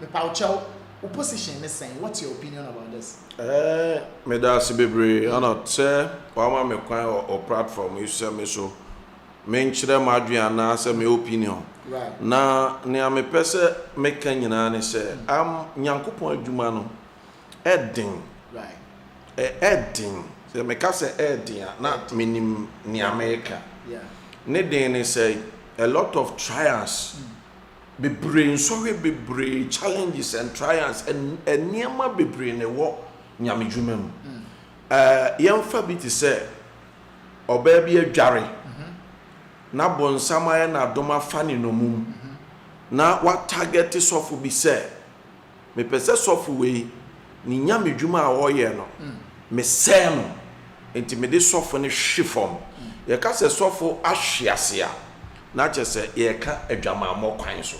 Mepaw kyɛw, wo position ne sɛn? What's your opinion about this? Eeh meda ase bebree Arnold sɛ wama me kwan wɔ wo platform yi so sɛ me nso menkyerɛ m'adwene anaa sɛ me opinion. Right. Na nea mepɛ sɛ meka nyinaa ne sɛ am Nyankopɔn adwuma no ɛden. Right. Ɛ ɛden. Sɛ meka sɛ ɛden a na menim nea mereka. Yeah. Ne den ne sɛ a lot of trials. Mm. Bebree nsɔhwɛ bebree challenges and trials nneɛma bebree na ɛwɔ Nyame dwuma mu eh yɛnfa bi te sɛ ɔbaa bi adware na bonsam ayɛ no adom afa ne nɔmum na wa target sɔfo bi sɛ mepɛ sɛ sɔfo wei ne nya me dwuma a ɔyɛ no mesɛɛ no nti mede sɔfo no hwe fam yɛka sɛ sɔfo ahwe ase a na kyɛ sɛ yɛka adwamammɔ kwan so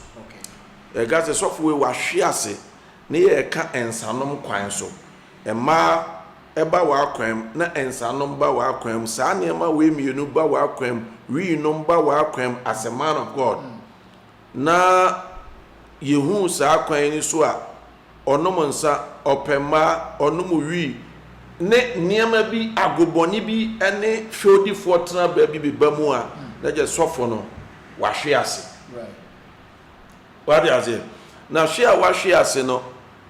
yɛka sɛ sɔfo wei wahwe ase ne yɛka nsanom kwan so mmaa ɛba w'akwan mu na nsanom ba w'akwan mu saa nneɛma wei mmienu ba w'akwan mu wii nom ba w'akwan mu as a man of God Na yɛhuu saa kwan no so a, ɔnom nsa, ɔpɛ mmaa, ɔnom wii, ne nneɛma bi, agobɔne bi ne fɛwdifoɔ tenabea bi beba mu a, na kyerɛ sɔfo no wahwe ase. Wate aseɛ? Na hwe a wahwe ase no,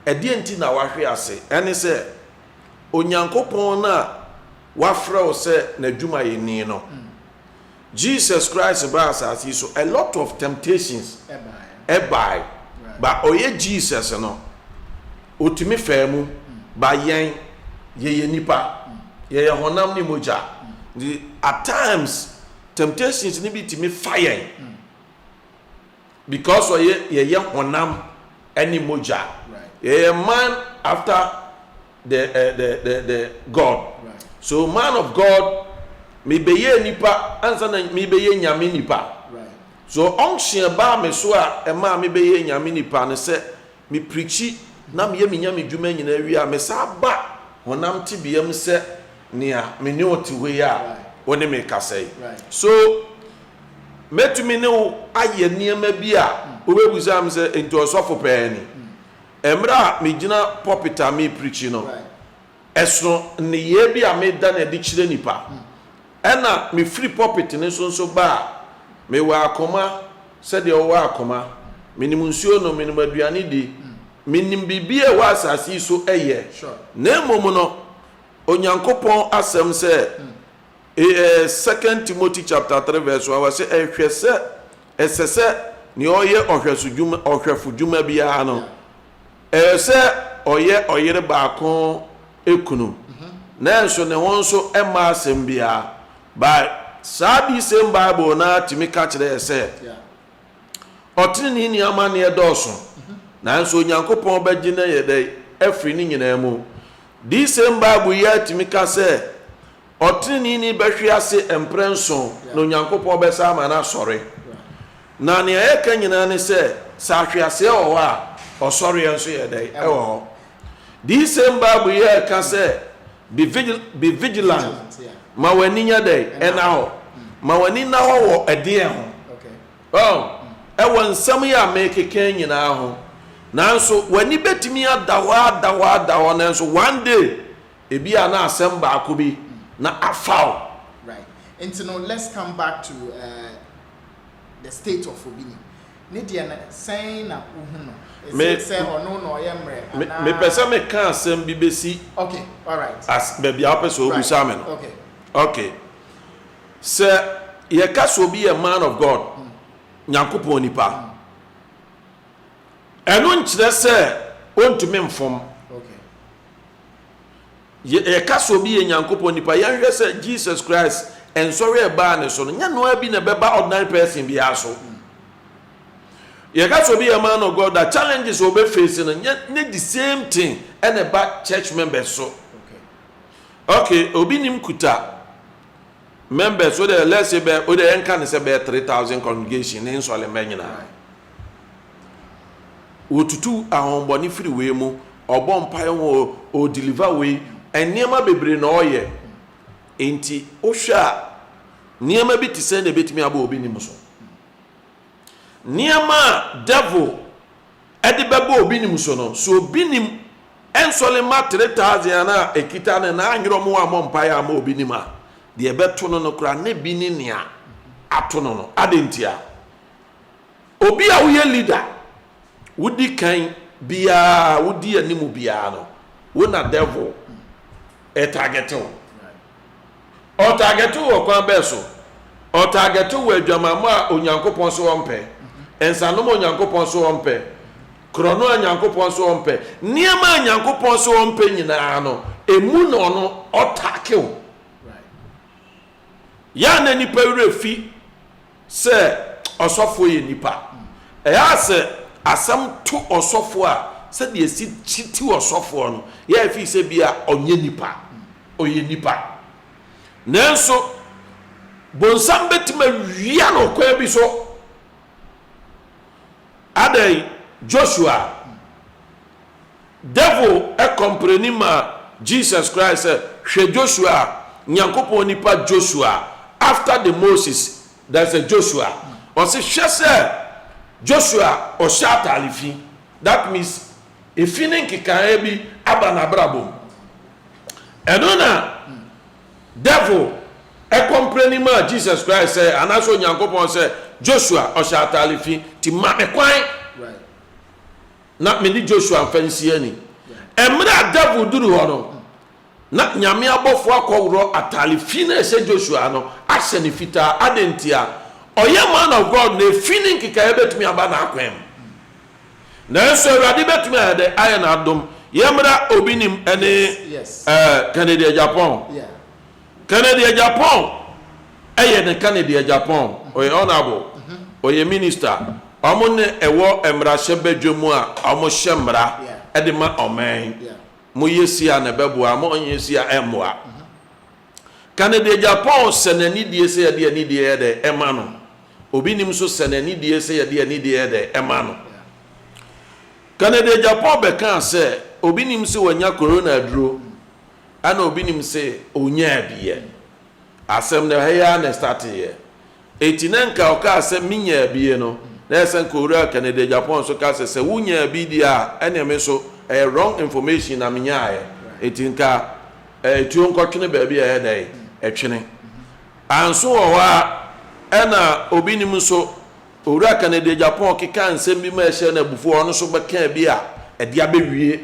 ɛdeɛ nti na wahwe ase? Ɛne sɛ, Onyankopɔn no a wafrɛ wo sɛ n'adwumayɛni no, Jesus Christ baa asaase yi so a lot of temptations bae but ɔyɛ Jesus no otumi faa mu but yɛn yɛyɛ nipa yɛyɛ honam ne mogya nti at times temptations no bi tumi fa yɛn because ɔyɛ yɛyɛ honam ne mogya yɛyɛ man after the eh, the the the God right. so man of God mebɛyɛ nipa ansa na mebɛyɛ nyame nipa right. so unction ɛbaa me so a ɛmaa mebɛyɛ nyame nipa no sɛ mepirikyi na meyɛ me nyame dwuma nyinaa wie a mesaa ba honam tebea mu sɛ nea me ne wo te hɔ yi a wo ne me kasa yi so mɛtumi ne wo ayɛ nneɛma bi a hmm. wobɛbisa m sɛ nti ɔsɔfo pɛɛ ni hmm. Mmerɛ a megyina pulpit a mereprikyi no, ɛsono nneyɛɛ bi a meda no adi kyerɛ nnipa. Ɛna mefiri pulpit no so nso ba a, mewɔ akoma sɛ deɛ ɔwɔ akoma. Menim nsuo nom, menim aduane di, menim biribiara a ɛwɔ asase yi so yɛ. Na mmom no, Onyankopɔn asɛm sɛ, Second Timothy chapter three verse one, ɔse, Hwɛ sɛ Ɛsɛ sɛ nea ɔyɛ ɔhwɛfodwuma biara no, ɛyɛ sɛ ɔyɛ ɔyere baako kunu, nanso ne ho nso mma asɛm biara. But saa this same Bible no ara tumi ka kyerɛ yɛn sɛ, Ɔteneneeni amanneɛ dɔɔso, nanso Onyankopɔn bɛgye no ayɛ dɛn? Afiri ne nyinaa mu. This same Bible yi ara tumi ka sɛ, Ɔtreneeni bɛhwe ase mprɛnson, na Onyankopɔn bɛsan ama no asɔre. Na nea yɛka nyinaa ne sɛ, sɛ ahweaseɛ wɔ hɔ a, ɔsɔreɛ nso yɛ dɛn? Ɛwɔ hɔ. These same Bible yi ɛka sɛ, be vigil, be vigilant, ma w'ani nyɛ dɛn? Ɛna hɔ. Ma w'ani nna hɔ wɔ ɛdeɛn ho? Oh, ɛwɔ nsɛm yi a merekeka yi nyinaa ho. Nanso, w'ani bɛtumi ada hɔ, ada hɔ, ada hɔ, nanso one day, Ebia na asɛm baako bi na afa wo. Right. Nti no let's come back to eh, the state of obi ni. Ne deɛ no sɛn na wo hu no? Is it sɛ ɔno na ɔyɛ mmerɛ anaa? Me pɛ sɛ me ka asɛm bi bɛsi Okay, alright. as baabi a wo pɛ sɛ wo bisa me no. Right, okay. Okay. Sɛ yɛ ka sɛ obi yɛ man of God, Nyankopɔn nipa. Ɛno nkyerɛ sɛ ɔntumi mfom. Yɛka sɛ obi yɛ Nyankopɔn nipa, yɛnhwɛ sɛ Jesus Christ nsɔre a ɛbaa ne so no, nyɛ no ara bi na ɛbɛba ordinary person biara so. Yɛka sɛ obi yɛ man of God a, challenges a ɔbɛ face no, nyɛ ne the same thing ɛna ɛba church members so. Okay, obi nim kuta members, o deɛ let's say bɛ, o deɛ yɛnka ne sɛ bɛyɛ 3000 congregation ne nsɔre mma nyinaa. Wotutu ahɔhombɔne firi wei mu, ɔbɔ mpaeɛ ho o, o deliver wei, nneɛma bebree na ɔyɛ. Nti wohwɛ a nneɛma bi te sɛn na ɛbɛtumi aba obi nim so? Nneɛma a devil ɛde bɛba obi nim so no, so obi nim ɛnsɔre mma 3000 anaa ɛkita no na anyerɛ ɔmo ammɔ mpaeɛ amma obi nim a, deɛ ɛbɛto no no koraa na ebi ne nea ato no no. Adɛn ntia? Obi a woyɛ leader, wodi kan biara, wodi anim biara no, wo na devil ɛtargɛte wo. Ɔtargɛte wo wɔ kwan bɛɛ so? Ɔtargɛte wo wɔ adwamammɔ a Onyankopɔn se ɔmpɛ, nsanom a Onyankopɔn se ɔmpɛ, korɔno a Nyankopɔn se ɔmpɛ, nneɛma a Nyankopɔn se ɔmpɛ nyinaa no, emu na ɔno ɔtake wo. Yɛ a na nnipa werɛ fi sɛ ɔsɔfoɔ yɛ nipa. Ɛyɛ a sɛ asɛm to ɔsɔfoɔ a, sɛdeɛ ɛsi kyi ti ɔsɔfoɔ no yɛ a ɛfiri sɛ bi a ɔnyɛ nipa, ɔyɛ nipa. Nanso bonsam bɛtumi awia no ɔkwan bi so. Adɛn? Joshua Devil kɔmprɛni maa Jesus Christ sɛ, Hwɛ Joshua a, Nyankopɔn nipa Joshua, after the Moses, there is a Joshua. Ɔse, hwɛ sɛ Joshua ɔhyɛ atare fi, that means efi ne nkekaeɛ bi aba n'abrabɔ mu. Ɛno na Devil kɔmprɛni maa Jesus Christ sɛ, anaasɛ Onyankopɔn sɛ, Joshua ɔhyɛ atare fi, nti ma no kwan. na me ne Joshua mfa nsi ani. Mmerɛ a Dawid duru hɔ no, na Nyame abɔfoɔ akɔworɔ ataale fi no a ɛhyɛ Joshua no ahyɛ no fitaa. Adɛn ntia? Ɔyɛ man of God na efi ne nkekaeɛ bɛtumi aba n'akwan mu. Nanso Awurade bɛtumi ayɛ dɛ ayɛ n'adom. Yɛmmra obi nim ne Kennedy Agyapong. Kennedy Agyapong yɛ ne Kennedy Agyapong, ɔyɛ honourable, ɔyɛ minister, wɔn na ɛwɔ mmarahyɛ badwa mu a wɔn hyɛ mmara de ma ɔman, mo yɛ sie a na ɛbɛboa, mo nyɛ sie a ɛmmoa. Kennedy Agyapong sɛ n'anidie sɛ yɛde anidie yɛ dɛ ɛma no, obi nim nso sɛ n'anidie sɛ yɛde anidie yɛ dɛ ɛma no. Kennedy Agyapong bɛkaa sɛ obi nim sɛ wanya Corona aduro, ɛna obi nim se onyaa bi yɛ asɛm no ɛha yi ara na ɛstate yɛ eti na nka ɔkaa sɛ me nyaa bi yɛ no na ɛsɛ nka owura Kennedy Agyapong nso ka sɛ sɛ wo nyaa bi deɛ a ɛneɛ me nso ɛyɛ wrong information na me nyaayɛ eti nka ɛɛ tuo nkɔtwene baabi a ɛyɛ dɛ ɛtwene anso wɔ hɔ a ɛna obi nim nso owura Kennedy Agyapong kekaa nsɛm bi ma ɛhyɛ no abufuo ɔno nso bɛkaa bi a ɛde abɛwie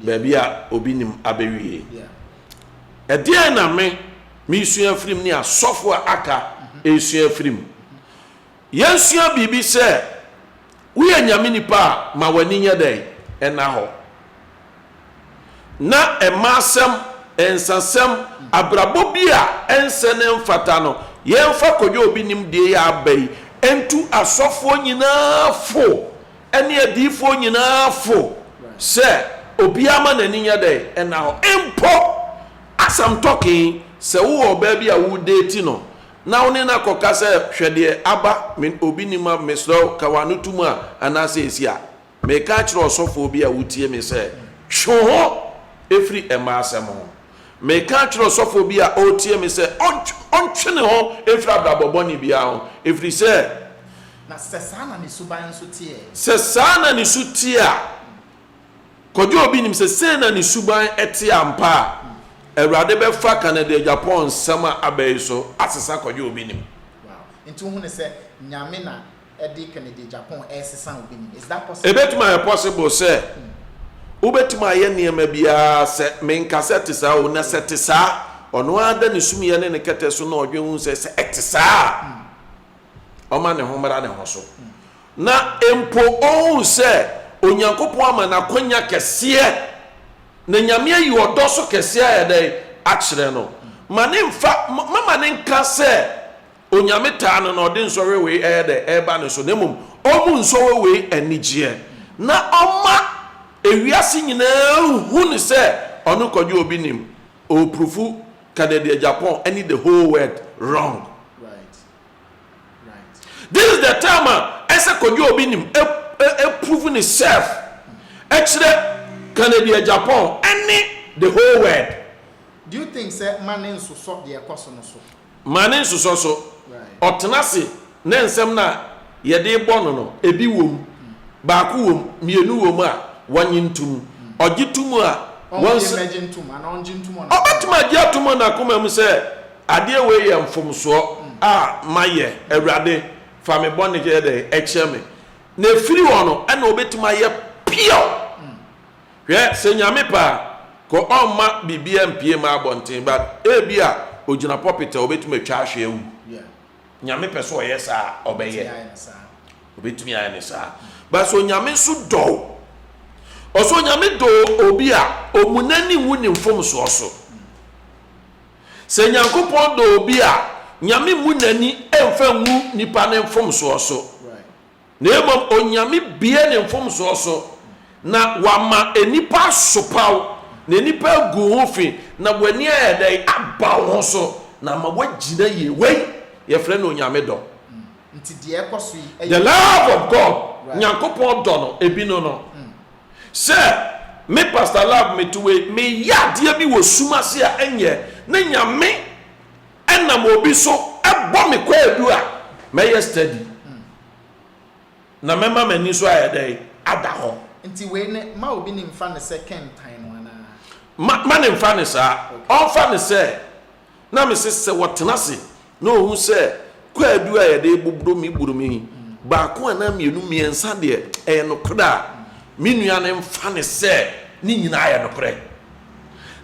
baabi a obi nnim abewie. Ɛdeɛn na me meresua afiri mu ne asɔfoɔ a aka resua afiri mu? Yɛnsua biribi sɛ woyɛ Nyame nipa a, ma w'ani nyɛ dɛn? Ɛnna hɔ. Na mmaasɛm, nsasɛm, abrabɔ bi a ɛnsɛ ne mfata no, yɛmfa kɔdwa obi nimdeɛ yi a aba yi ntu asɔfoɔ nyinaa fo. ɛne adiyifoɔ nyinaa fo sɛ obiara mma n'ani nyɛ dɛn? Ɛnna hɔ. Mpo Asɛm tɔke, sɛ wowɔ ɔbaa bi a woredeeti no na wo ne no akɔka sɛ, Hwɛ deɛ aba, me obi nni ma, mesrɛ wo ka w'ano to mu a, anaasɛ ɛsi a, mereka akyerɛ ɔsɔfoɔ bi a wotie me sɛ, Twe wo ho firi mmaa asɛm ho. Mereka akyerɛ ɔsɔfoɔ bi a ɔretie me sɛ, Ɔntwe ne ho mfiri abrabɔ bɔne biara ho, ɛfiri sɛ, Na sɛ saa na ne suban nso te ɛ? Sɛ saa na ne su te a, Kwadwo a obi nim sɛ sei na ne suban te ampa a, Awurade bɛfa Canada Agyapong nsɛm a aba yi so asesa Kwadwo a obi nim. Wow. Nti wohu no sɛ Nyame na ɛde Canada Agyapong ɛresesa obi nim. Is that possible? Ɛbɛtumi ayɛ possible sɛ wobɛtumi ayɛ nneɛma biara sɛ menka sɛ ɛte saa o, na sɛ ɛte saa a, ɔno ara da ne sumyɛ ne ne kɛtɛ so na ɔdwen ho sɛ sɛ ɛte saa a, ɔma ne ho mmara ne ho so, na mpo ɔhu sɛ Onyankopɔn ama no akwanya kɛseɛ, na Nyame ayi ɔdɔ so kɛseɛ ayɛ dɛn? akyerɛ no. Ma ne mfa, mama ne nka sɛ Onyame taa no na ɔde nsɔhwɛ wei ɛyɛ dɛn? ɛba ne so, na mmom ɔmu nsɔhwɛ wei anigyeɛ, na ɔma ewiase nyinaa nhu no sɛ ɔno Kwadwo obi nim, ɔɔprufu Kennedy Agyapong ɛne the whole world wrong. This is the time a ɛsɛ kɔdwe obi nim prove ne self ɛkyerɛ Kennedy Agyapong ɛne the whole world. Do you think sɛ ma ne nsosɔ deɛ ɛkɔ so no so? Ma ne nsosɔ so. Ɔtena ase na nsɛm no a yɛde bɔ no no ebi wɔ mu, baako wɔ mu, mmienu wɔ mu a wɔnye nto mu. Ɔgye to mu a wɔn nsa. Ɔbɛtumi agye ato mu wɔ n'akoma mu sɛ. Adeɛ wei yɛ mfomsoɔ a mayɛ, Awurade, fa me bɔne yɛ dɛn? Kyɛ me. Na ɛfiri hɔ no na ɔbɛtumi ayɛ pure. Hwɛ, sɛ Nyame pɛ a, kɔ ɔmma biribiara mpue mma abɔnten, but ebi a ɔgyina pulpit a ɔbɛtumi atwa ahwe awu. Nyame pɛ sɛ ɔyɛ saa a, ɔbɛyɛ. Ɔbɛtumi ayɛ no saa. But sɛ Onyame nso dɔ wo, ɔsɛ Onyame dɔ obi a ɔmu n'ani nwu ne mfomsoɔ so. Sɛ Nyankopɔn dɔ obi a, Nyame mmu n'ani mmfa ngu nnipa no mfomsoɔ so, na mmom Onyame bue ne mfomsoɔ so, na Wama nnipa asopa wo, na nnipa agu ho fi, na w'ani ayɛ dɛn? Aba wo ho so, na ama woagyina yie. Wei, yɛfrɛ no Onyame dɔ. The love of God, Nyankopɔn dɔ no, ebi no no, Sɛ me pastor love me to wei me yɛ adeɛ bi wɔ sum ase a ɛnyɛ ne Nyame ɛnam obi so ɛbɔ me kwaadu a mɛyɛ steady na mɛma m'ani nso ayɛ dɛn ada hɔ. Nti wei ne ma obi ne nfa ne sɛ kɛntan no anaa? Ma ma ne nfa ne saa. Ɔnfa ne sɛ. na mese sɛ wɔtena ase na wɔhu sɛ kwaadu a yɛde boboro me boro me yi baako anaa mmienu mmiɛnsa deɛ ɛyɛ nokorɛ a, me nua no mfa no sɛ ne nyinaa yɛ nokorɛ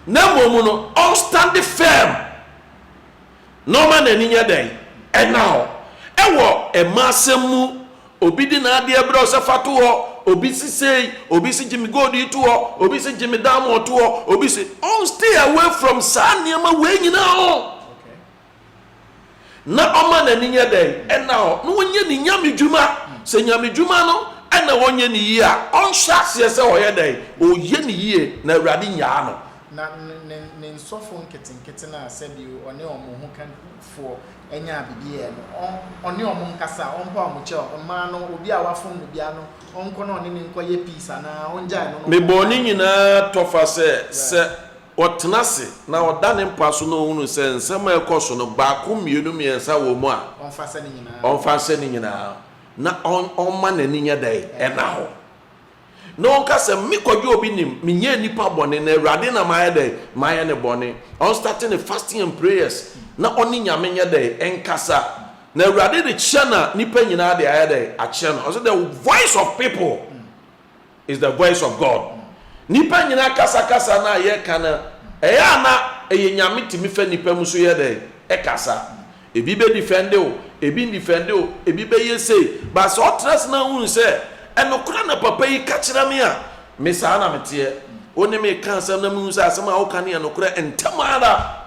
na mmom no ɔnstande fɛɛm na ɔma n'ani nyɛ dɛn? Ɛna hɔ. Ɛwɔ mmaasɛm mu. Obi de n'adeɛ brɛ wo sɛ fa to hɔ, obi se sei, obi se gye me gold yi to hɔ, obi se gye me diamond to hɔ, obi se ɔn stay away from saa nneɛma wei nyinaa ho na ɔma n'ani nyɛ dɛn ɛna hɔ na ɔnyɛ ne nyamedwuma sɛ nyamedwuma no ɛna ɔnyɛ ne yie a ɔnhyɛ aseɛ sɛ ɔyɛ dɛn ɔyɛ ne yie na awurade nyaa no. Na ne nsɔfo nketenkete no a sɛdeɛ ɔne wɔn ho ka foɔ nyaa biribi yɛɛ no, ɔne wɔn nkasa, ɔmpaw wɔn kyɛw, mmaa no, obi a wɔafom no biara no, ɔnkɔ na ɔne no nkɔyɛ peace anaa ɔngyae no. Me bɔɔ ne nyinaa tɔfa sɛ, sɛ ɔtena ase na ɔda ne mpa so na ɔhunu sɛ nsɛm a ɛrekɔ so no, baako, mmienu, mmiɛnsa wɔ mu a, ɔmfa nhyɛ ne nyinaa, na ɔmma n'ani nyɛ dɛn? Ɛnna hɔ. na ɔka sɛ me kwadwo a obi nim menyɛɛ nnipa bɔne na awurade na mayɛ dɛn mayɛ ne bɔne ɔn starte ne fasting and prayers na ɔne nyame nyɛ dɛn ɛnkasa na awurade de kyɛ na nnipa nyinaa de ayɛ dɛn akyɛ no ɔsɛ the voice of people is the voice of God nnipa nyinaa kasakasa na yɛka no ɛyɛ a na ɛyɛ nyame tumi fɛ nnipa mu so yɛ dɛn ɛkasa Ebi bɛ defɛnde wo, ebi ndefɛnde wo, ebi bɛyɛ sei, but sɛ ɔtra ase na ohunu sɛ ɛnokorɛ na papa yi ka kyerɛ me a, me saa na me teɛ. Wo ne me ka asɛm na me hu sɛ asɛm a wo ka no yɛ nokorɛ, ntɛm ara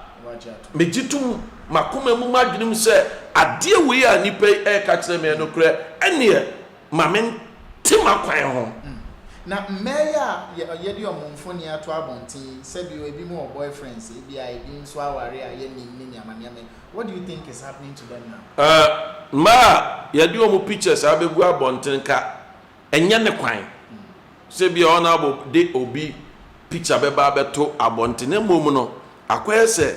me gye tom m'akoma mu, m'adwene mu sɛ adeɛ wei a nipa yi ɛreka kyerɛ me yɛ nokorɛ, ɛneɛ Ma mente m'akwan ho. Mm. Na mmaa yi a yɛ, yɛde wɔn mfoni ato abɔnten yi, sɛbi o, ebi mo wɔ boyfriends, ebia ebi nso aware a yɛnnim ne nneɛma nneɛma yi, what do you think is happening to them now? Eh, mmaa a yɛde wɔn pictures abegu abɔnten nka ɛnyɛ ne kwan sɛ ebia Honourable de obi picture bɛba abɛto abɔnten, na mmom no, akɔyɛ sɛ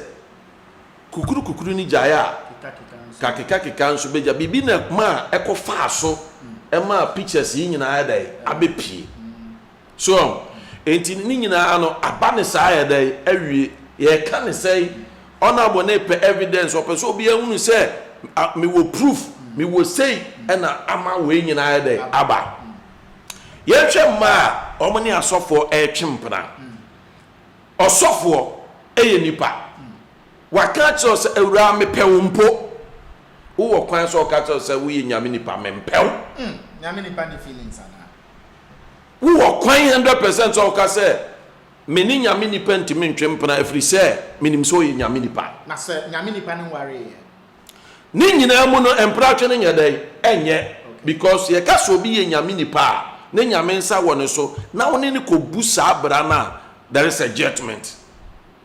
Kukuru kukuru no gyae a kakekakeka nso bɛgya. Biribi na maa ɛkɔfaa so maa pictures yi nyinaa ayɛ dɛn? Abɛpue. So ɔho? Enti ne nyinaa no, aba no saa ayɛ dɛn? Awie. Yɛreka no sɛn? Honourable no repɛ evidence, ɔpɛ sɛ obiara hunu sɛ mewɔ proof, mewɔ sei na ama wei nyinaa ayɛ dɛn? Aba. Yɛnhwɛ mmaa a wɔne asɔfoɔ retwe mpena. Ɔsɔfoɔ yɛ nipa. Waka akyerɛ wo sɛ, Awuraa, mepɛ wo mpo. Wowɔ kwan sɛ ɔka kyerɛ wo sɛ, Woyɛ Nyame nipa, mempɛ wo. Hmm, Nyame nipa nni feelings anaa? Wowɔ kwan hundred percent sɛ ɔka sɛ, Me ne Nyame nipa ntumi ntwe mpena ɛfiri sɛ, menim sɛ ɔyɛ Nyame nipa. Na sɛ Nyame nipa no nwaree ɛ? Ne nyinaa mu no, mpratwe no nyɛ dɛn? Ɛnyɛ. Because sɛ yɛka sɛ obi yɛ Nyame nipa a, ne Nyame nsa wɔ ne so, na wo ne no kɔbu saa bra no a, there is a judgement.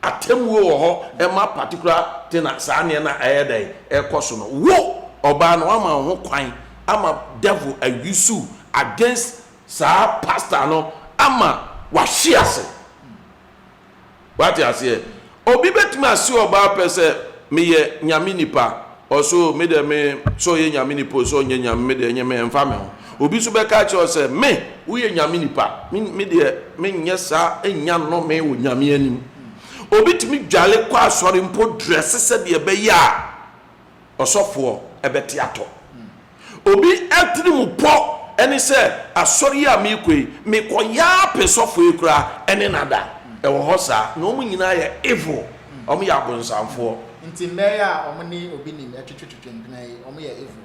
Atemmuo wɔ hɔ ma particular thing a saa nneɛ no a ɛyɛ dɛn? Ɛrekɔ so no. Wo, ɔbaa no, woama wo ho kwan ama devil a use wo against saa pastor no ama wahwe ase. Wate aseɛ? Obi bɛtumi ase ɔbaa pɛ sɛ, Meyɛ Nyame nipa. Ɔse, O, me deɛ me, sɛ ɔyɛ Nyame nipa o, sɛ ɔnyɛ Nyame, me deɛ ɛnyɛ me, ɛmfa me ho. Obi nso bɛka akyerɛ wo sɛ, Me, woyɛ Nyame nipa, me, me deɛ menyɛ saa, ɛnnya nnome wɔ Nyame anim. Obi tumi dwale kɔ asɔre mpo, drɛse sɛdeɛ ɛbɛyɛ a Ɔsɔfoɔ bɛte atɔ. Obi atirimpɔ ne sɛ, Asɔre yi a merekɔ yi, mekɔyɛ ara pɛ sɔfoɔ yi koraa ɛne no ada. Ɛwɔ hɔ saa. Na wɔn nyinaa yɛ evil. Wɔyɛ abonsamfoɔ. Nti mɛyɛ a wɔne obi nim twetwetwetwe mpena yi, wɔyɛ evil.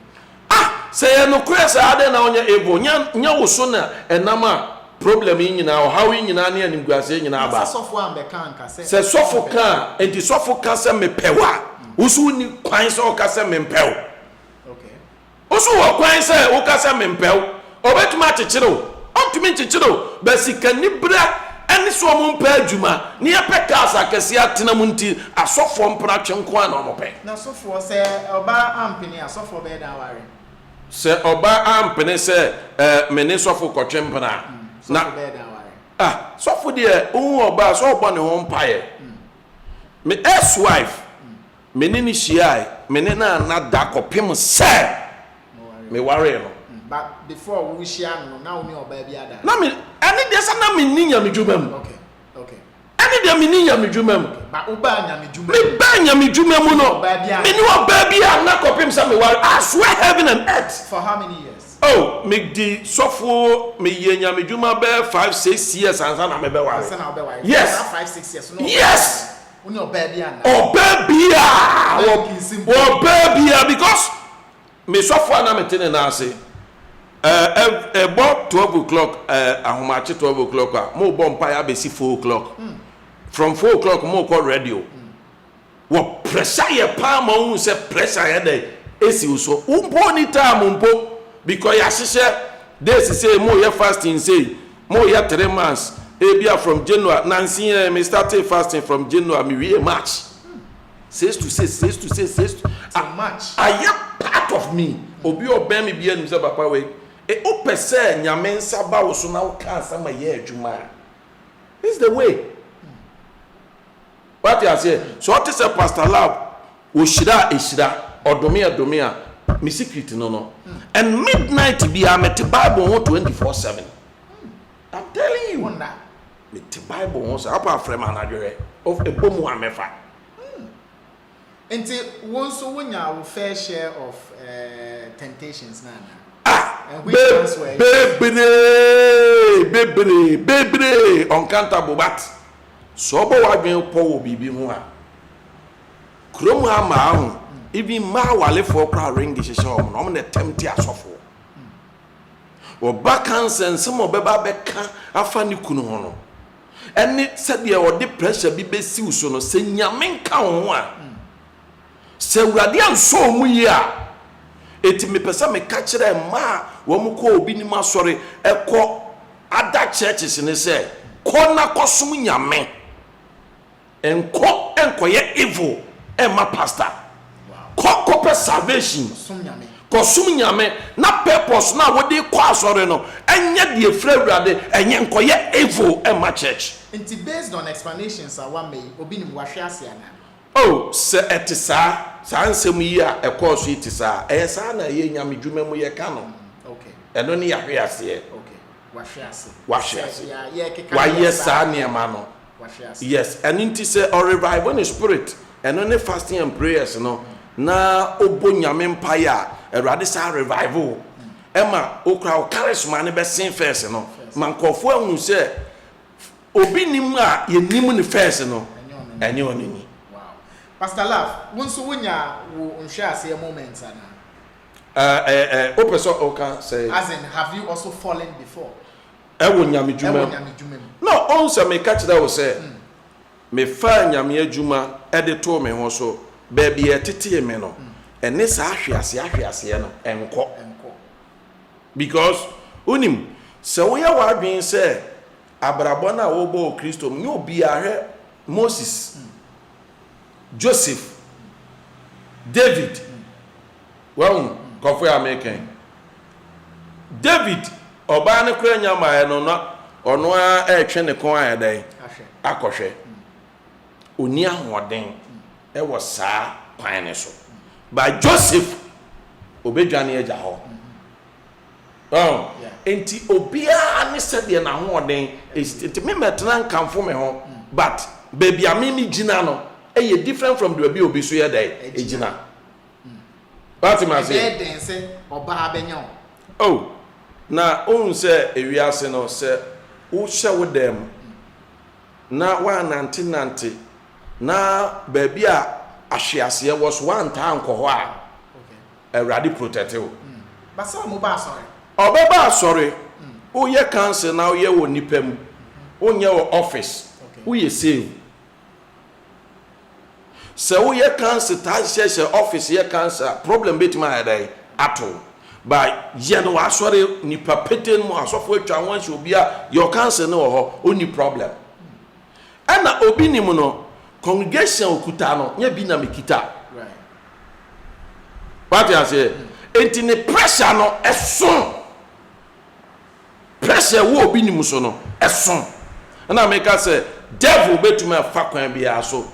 Ah! Sɛ ɛyɛ nokorɛ saa, adɛn na wonyɛ able? Nyɛ, nyɛ wo so na ɛnam a problem yi nyinaa, ɔhaw yi nyinaa ne animguaseɛ nyinaa Na ba. sɛ sɔfo ambɛka anka sɛ Sɛ sɔfo ka a, ɔmpɛ. enti sɔfo ka sɛ mepɛ wo a, wo nso wonni kwan sɛ woka sɛ mempɛ wo. Okay. Wo nso wɔ kwan sɛ woka sɛ mempɛ wo. Ɔbɛtumi akyekyere wo? Ɔntumi nkyekyere wo, but sikanibere ne sɛ wɔmpɛ adwuma ne yɛpɛ cars akɛseɛ atena mu nti asɔfoɔ mpena twe nko ara na wɔpɛ. Na sofoɔ, sɛ ɔbaa ampene a, sɔfoɔ bɛyɛ dɛn aware no? Sɛ ɔbaa ampene sɛ eh, me ne sɔfo kɔtwe mpena a, Mm, na, sɔfo bɛyɛ dɛn aware no? ah, sɔfo deɛ, ɔhu ɔbaa a, sɛ ɔbɔ ne ho mpaeɛ. Me ex-wife. Me ne no hyiae, me ne no anna da kɔpem sɛ me waree no. But before wo hyia no no, na wo ne ɔbaa bi ada? Na me, ɛne deɛ sɛ na me nni nyamedwuma mu. Okay, okay. Ɛne deɛ me nni nyamedwuma mu. Okay, but wo baa nyamedwuma mu? Me baa nyamedwuma mu no, me ne ɔbaa bi anna kɔpem sɛ me ware, I swear heaven and earth. For how many years? Oh, me di sɔfo, me yɛ nyamedwuma bɛɛ five, six years ansa na me bɛ ware. Ansa na wo bɛ ware? Yes. Saa five, six years no, wo bɛ ware? Yes. Wo ne ɔbaa bi anna. Ɔbaa biaa wɔ ɔbaa biaa because me sɔfo a na me te ne nan ase eh ɛbɔ twelve o'clock eh ahomakye twelve o'clock a mo bɔ mpa yɛ abɛsi four o'clock from four o'clock mo kɔ radio wɔ pressure yɛ paa ma ohun sɛ pressure yɛ dɛ esi wo so wo mpo ni time mpo because yɛ ahyehyɛ days sɛ mo yɛ fasting sɛ. Mo yɛ three months ebia from January nansi yɛn me starting fasting from January me wie March six to six six to six six to ayɛ part of me obi ɔbɛn me bia nim sɛ papa wei e o pɛ sɛ nyame nsa ba wo so na wo ka nsa ma yɛ adwuma a this the way. Wate aseɛ? Sɛ ɔte sɛ Pastor Love, ɔhyira a, ɛhyira, ɔdome a, ɛdome a. Me secret no no. And midnight biara, mete Bible ho twenty four seven. I'm telling you. Wonder. Mete Bible ho saa. Apa frɛ me anadwo hwɛ. Ɛbɔ mu a, mɛfa. Nti wo nso wo nyaa wo fair share of eh, temptations na ana? Ah! Be, bebree, bebree, bebree, uncountable but sɛ ɔbɔ w'adwene pɔ wɔ biribi ho a, kurom ha mmaa ho, even mmaa awarefoɔ koraa ring hyehyɛ wɔn na wɔn na tempte asɔfoɔ. Ɔba ka nsɛnsɛm a ɔbɛba abɛka afa ne kunu ho no, ɛne sɛdeɛ ɔde pressure bi bɛsi wo so no, sɛ Nyame nka wo ho a, sɛ Awurade ansɔ wɔn mu yie a, enti mepɛ sɛ meka kyerɛ mmaa a wɔn kɔ obi nim asɔre, ɛkɔ other churches no sɛ, kɔ na kɔsom Nyame. Nkɔ nkɔyɛ evil mma pastor. Kɔ kɔpɛ salvation. Kɔsom Nyame na purpose no a wode kɔ asɔre no nyɛ deɛ ɛfiri Awurade, ɛnyɛ nkɔyɛ evil mma church. Nti based on explanations a wama yi, obi nim wahwe ase anaa? Oh, sɛ ɛte saa, saa nsɛm yi a ɛkɔɔ so yi te saa, ɛyɛ saa na ɛyɛ Nyame dwuma mu yɛka no. Ɛno ne yahwe aseɛ. Wahwe ase. Wayɛ saa nneɛma no. wahwe ase. Yes ɛno nti sɛ ɔ revive ne spirit ɛno ne fasting and prayers no na ɔbɔ nyame mpaeɛ a awurade saa revive wo ɛma wo koraa wo charisma no bɛsen first no ma nkurɔfoɔ ahu sɛ obi nim a yɛnim ne first no ɛnyɛ ɔno ni. Wow. Pastor Love, wo nso wonya wo nhwɛaseɛ moments anaa? Ɛɛ ɛɛ ɛɛ wopɛ sɛ woka sɛ. As in have you also fallen before? wɔ nyamedwuma mu. Na ɔhu sɛ meka kyerɛ wo sɛ mefaa nyameadwuma de too me ho so baabi a ɛtetee me no, ɛne saa ahweaseɛ-ahweaseɛ no nkɔ. Because, wonim, sɛ woyɛ w'adwene sɛ abrabɔ no a worebɔ wɔ Kristo mu, nyɛ obiara, hwɛ Moses, Joseph, David, Wahu kɔfoɛ a mereka yi? David, ɔbaa no koraa nya mmaeɛ no, na ɔno ara retwe ne kɔn ayɛ dɛn? Akɔhwɛ. Ɔnni ahoɔden wɔ saa kwan no so. But Joseph, ɔbɛdwane agya hɔ. Wahu? Enti obiara ne sɛdeɛ n'ahoɔden si. Enti me mɛtena nkamfo me ho, but baabi a me megyina no yɛ different from baabi a obi nso yɛ dɛn? Gyina. Wate me aseɛ? Ɛbɛyɛ den sɛ ɔbaa bɛnya wo. Oh, na wohu sɛ ewiase no, sɛ wohyɛ wo dan mu na woannantenante na baabi a ahweaseɛ wɔ so woantaa ankɔ hɔ a, Awurade protɛte wo. But sɛ ɔmo ba asɔre? Ɔbɛba asɔre. Woyɛ council na woyɛ wɔ nnipa mu, wonyɛ wɔ office, woyɛ sei o. Sɛ wo yɛ council taa hyehyɛ sɛ office yɛ council a problem bɛtumi ayɛ dɛn ato wo but yɛ no w'asɔre nipa petee no mu asɔfo atwa ho ahyɛ obi a your council no wɔ hɔ ɔnni problem ɛna obi nim no congregation okuta no nyɛ bi na mekita wate aseɛ enti ne pressure no ɛso Pressure a ɛwɔ obi nim so no, ɛso. Ɛna meka sɛ devil bɛtumi afa kwan biara so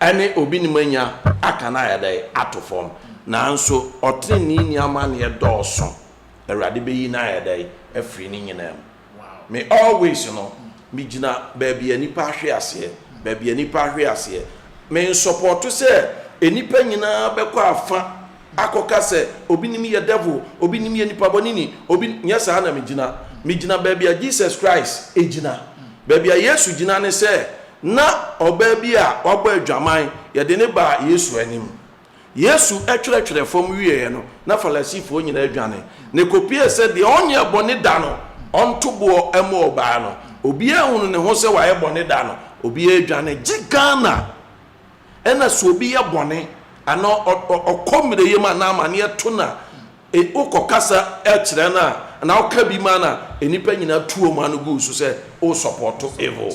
ɛne obi nim anya aka no ayɛ dɛn? Ato fam. Nanso ɔteneneeni amanneɛ dɔɔso. Awurade bɛyi no ayɛ dɛn? Afiri ne nyinaa mu. Me always no, megyina baabi a nnipa ahwe aseɛ, baabi a nnipa ahwe aseɛ. Mensɔpɔɔto sɛ nnipa nyinaa bɛkɔ afa. akɔka sɛ obi nim yɛ devil, obi nim yɛ nipa bɔne ni, obi nyɛ saa na megyina. Megyina baabi a Jesus Christ gyina. Baabi a Yesu gyina ne sɛ na ɔbaa bi a wabɔ adwaman, yɛde no baa Yesu anim. Yesu twerɛtwerɛɛ fam wieeɛ no, na Farisifoɔ nyinaa dwane. Na ɛkɔpuee sɛ deɛ ɔnyɛɛ bɔne da no, ɔnto boɔ mma ɔbaa no. Obiara hunu ne ho sɛ wayɛ bɔne da no, obiara dwane gye Ghana Ɛna sɛ obi yɛ bɔne anaa ɔkɔ mmerɛyɛ mu anaa amaneɛ to no a, wokɔ kasa kyerɛ no a, anaa woka bi ma no a, nnipa nyinaa tu wɔn ano gu wo so sɛ wosɔpɔto evil.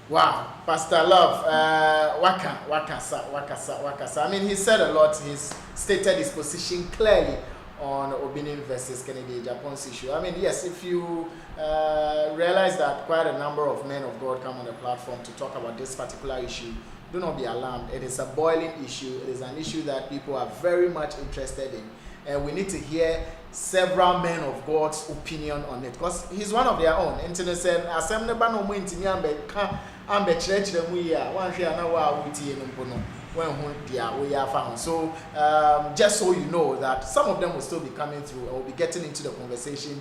Wow Pastor Love eh waka wakasa wakasa wakasa I mean he said a lot he's stated his position clearly on Obinim vs Kennedy Agyapong's issue I mean yes if you realize that quite a number of men of God come on the platform to talk about this particular issue do not be alarmed it is a boiling issue it is an issue that people are very much interested in and we need to hear several men of God's opinion on it because he's one of their own nti ne sɛ asɛm ne ba na ɔmo ntumi ambɛka ambɛkyerɛkyerɛ mu yie a wanhwɛ a na wo a wotie no mpo no wanhu deɛ woyɛ afa ho so um, just so you know that some of them will still be coming through and will be getting into the conversation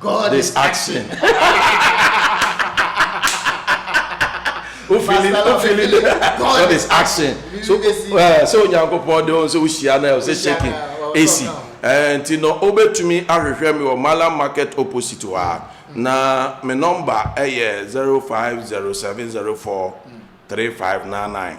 God is action. God is action. So eh, sɛ onyankopɔn de wɔn sɛ wohyia na ɛwɔ sɛ shaking esi eh, nti no wobɛtumi ahwehwɛ me wɔ malam market opposite hɔ a na me nɔmba ɛyɛ 0507043599